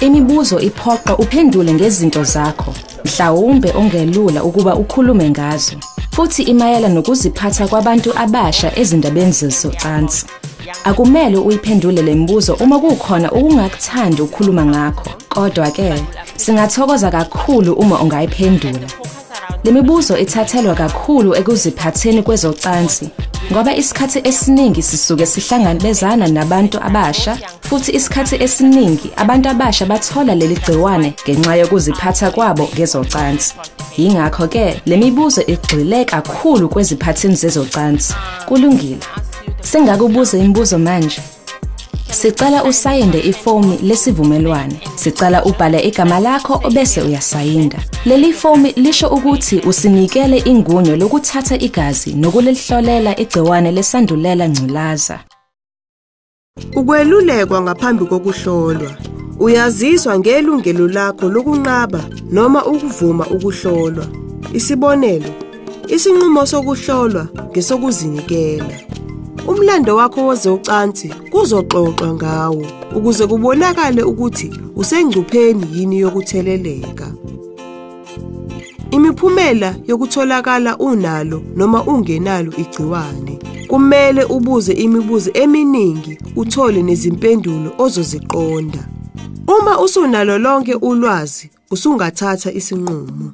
imibuzo iphoqa uphendule ngezinto zakho mhlawumbe ongelula ukuba ukhulume ngazo futhi imayela nokuziphatha kwabantu abasha ezindabeni zezocansi Akumele uyiphendule lembuzo uma kukhona ukungakuthandi ukukhuluma ngakho. Kodwa ke singathokoza kakhulu uma ungayiphendula. Lemibuzo ithathelwa kakhulu ekuziphatheni kwezocansi ngoba isikhathi esiningi sisuke sihlangabezana nabantu abasha futhi isikhathi esiningi abantu abasha bathola leli gciwane ngenxa yokuziphatha kwabo ngezocansi. Yingakho ke lemibuzo igxile kakhulu kweziphathini zezocansi. Kulungile. Sengakubuza imibuzo manje. Sicela usayinde ifomi lesivumelwane. Sicela ubhale igama lakho obese uyasayinda. Leli fomi lisho ukuthi usinikele ingunyo lokuthatha igazi nokulihlolela igciwane lesandulela ngculaza. Ukwelulekwa ngaphambi kokuhlolwa. Uyaziswa ngelungelo lakho lokunqaba noma ukuvuma ukuhlolwa. Isibonelo, isinqumo sokuhlolwa ngesokuzinikela. Umlando wakho wozocansi kuzoxoxwa ngawo ukuze kubonakale ukuthi usengcupheni yini yokutheleleka. Imiphumela yokutholakala unalo noma ungenalo igciwane. Kumele ubuze imibuzo eminingi uthole nezimpendulo ozoziqonda. Uma usunalo lonke ulwazi, usungathatha isinqumo.